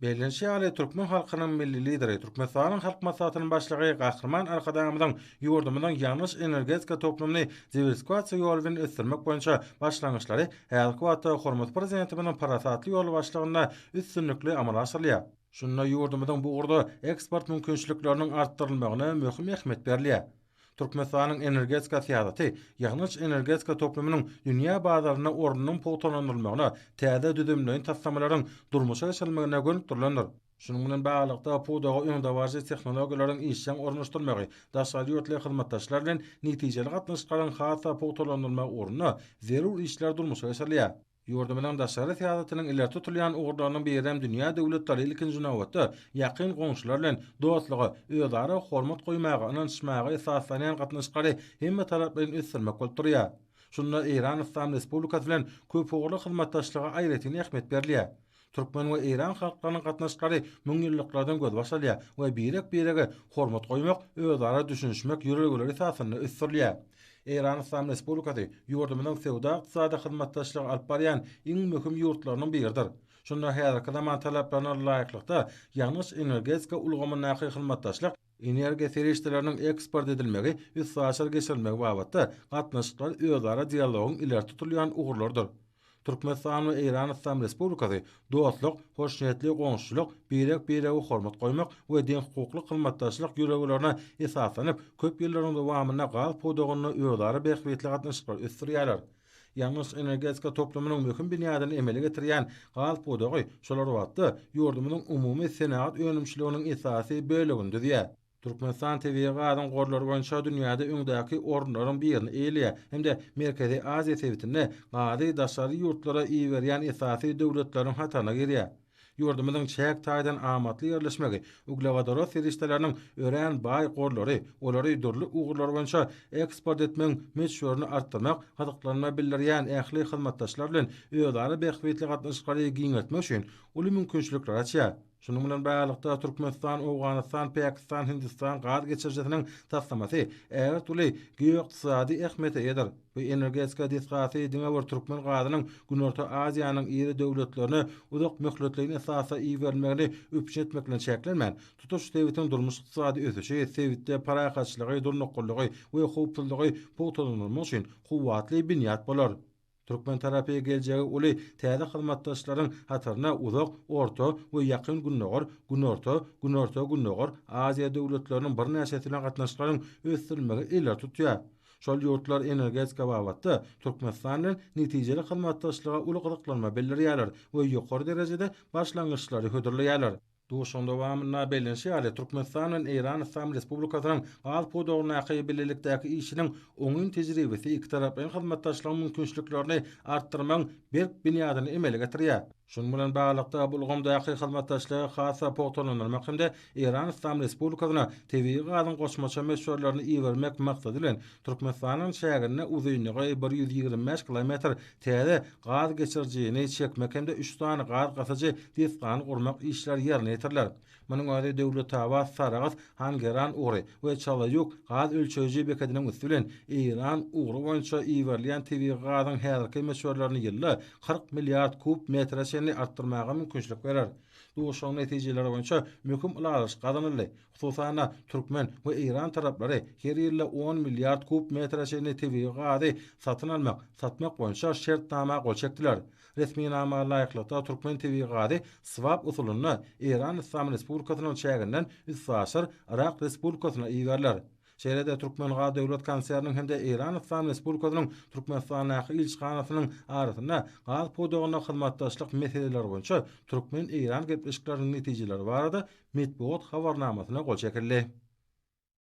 Bellenişi ýaly, türkmen halkynyň Milli Lideri, Türkmenistanyň Halk Maslahatynyň Başlygy Gahryman Arkadagymyzyň ýurdumyzyň ýangyç-energetika toplumyny diwersifikasiýa ýoly bilen ösdürmek boýunça başlangyçlary häzirki wagtda hormatly Prezidentimiziň parasatly ýolbaşçylygynda üstünlikli amala aşyrylýar. Şunda ýurdumyzyň bu ugurda eksport mümkinçilikleriniň artdyrylmagyna möhüm ähmiýet berilýär. Türkmenistanyň energetika syýasaty ýangyç-energetika toplumynyň dünýä bazarynda ornunyň pugtalandyrylmagyna, täze düzümleýin taslamalaryň durmuşa geçirilmegine gönükdirilendir. Şunuň bilen baglylykda, pudaga öňdebaryjy tehnologiýalaryň işjeň ornaşdyrylmagy, daşary ýurtly hyzmatdaşlar bilen netijeli gatnaşyklaryň has-da pugtalandyrylmagy ugrunda zerur işler durmuşa geçirilýär. Ýurdumyzyň daşary syýasatynyň ileri tutulýan ugurlarynyň biri hem dünýä döwletleri, ilkinji nobatda, ýakyn goňşular bilen dostluga, özara hormat goýmaga, ynanyşmaga esaslanýan gatnaşyklary hemmetaraplaýyn ösdürmek bolup durýar. Şunda Eýran Yslam Respublikasy bilen köpugurly hyzmatdaşlyga aýratyn ähmiýet berilýär. Türkmen we eýran halklarynyň gatnaşyklary müňýyllyklardan gözbaş alýar we birek-birege hormat goýmak, özara düşünişmek ýörelgeleri esasynda ösdürilýär. Eýran Yslam Respublikasy ýurdumyzyň söwda-ykdysady hyzmatdaşlygy alyp barýan iň möhüm ýurtlarynyň biridir. Şunda häzirki zaman talaplaryna laýyklykda ýangyç-energetika ulgamyndaky hyzmatdaşlyk, Energiýa serişdeleriniň eksport edilmegi, üstaşyr geçirilmegi babatda gatnaşyklar özara dialogyň ileri tutulýan ugurlarydyr. Türkmenistan we Eýran Yslam Respublikasy dostluk, hoşniýetli goňşuçylyk, birek-birege hormat goýmak we deňhukukly hyzmatdaşlyk ýörelgelerine esaslanyp, köp ýyllaryň dowamynda gaz pudagynda özara bähbitli gatnaşyklary ösdürýärler. Ýangyç energetika toplumynyň möhüm binýadyny emele getirýän gaz pudagy şol bir wagtda ýurdumyzyň umumy senagat önümçiliginiň esasy bölegini düzýär. Türkmenistan tebigy gazyň gorlary boýunça dünýäde öňdäki orunlaryň birini eýeleýär hem-de Merkezi Aziýa sebitinde gazy daşary ýurtlara iberýän esasy döwletleriň hataryna girýär. Ýurdumyzyň çäk taýdan amatly ýerleşmegi, uglewodorod serişdeleriniň örän baý gorlary, olary dürli ugurlar boýunça eksport etmegiň möçberini artdyrmak, gyzyklanma bildirýän ähli hyzmatdaşlar bilen özara bähbitli gatnaşyklary giňeltmek üçin uly mümkinçilikleri açýar. Şunuň bilen baglylykda, Türkmenistan, Owganystan, Pakistan, Hindistan gaz geçirijisiniň taslamasy ägirt uly geoykdysady ähmiýete eýedir. Bu energetika desgasy diňe bir türkmen gazynyň Günorta Aziýanyň iri döwletlerine uzak möhletleýin esasda iberilmegini üpjün etmek bilen çäklenmän, tutuş sebitiň durmuş-ykdysady ösüşi, sebitde parahatçylygy, durnuklylygy we howpsuzlygy pugtalandyrmak üçin kuwwatly binýat bolar. Türkmen tarapy geljegi uly täze hyzmatdaşlaryň hataryna Uzak, Orta we Ýakyn Gündogar, Günorta, Günorta-Gündogar Aziýa döwletleriniň birnäçesi bilen gatnaşyklaryň ösdürilmegi ileri tutýar. Şol ýurtlar energetika babatda Türkmenistan bilen netijeli hyzmatdaşlyga uly gyzyklanma bildirýärler we ýokary derejede başlangyçlary hödürleýärler. Duşuşygyň dowamynda bellenişi ýaly, Türkmenistan bilen Eýran Yslam Respublikasynyň gaz pudagyndaky bilelikdäki işiniň oňyn tejribesi ikitaraplaýyn hyzmatdaşlygyň mümkinçiliklerini artdyrmagyň berk binýadyny emele getirýär. Şunuň bilen baglylykda, bu ulgamdaky hyzmatdaşlygy has-da pugtalandyrmak hem-de Eýran Yslam Respublikasyna tebigy gazyň goşmaça möçberlerini ibermek maksady bilen, Türkmenistanyň çägine uzynlygy bir ýüz ýigrimi bäş kilometr täze gaz geçirijini çekmek hem-de üç sany gaz gasyjy desgany gurmak işleri ýerine ýetiriler. Munuň özi Döwletabat, Sarahs, Hangeran ugry we Çalaýuk gaz ölçeýji bekediniň üsti bilen Eýran ugry boýunça iberilýän tebigy gazyň häzirki möçberlerini ýylda kyrk milliard kub metre çenli artdyrmaga mümkinçilik berer. Duşuşygyň netijeleri boýunça möhüm ylalaşyk gazanyldy, hususan-da, türkmen we eýran taraplary her ýylda on milliard kub metre çenli tebigy gazy satyn almak, satmak boýunça şertnama gol çekdiler. Resminama laýyklykda, türkmen tebigy gazy swap usulynda Eýran Yslam Respublikasynyň çäginden üstaşyr Yrak Respublikasyna iberiler. Şeýle-de Türkmengaz döwlet konserniniň hem-de Eýran Yslam Respublikasynyň Türkmenistandaky ilçihanasynyň arasynda gaz pudagynda hyzmatdaşlyk meseleleri boýunça türkmen-eýran gepleşikleriniň netijeleri barada metbugat habarnamasyna gol çekildi.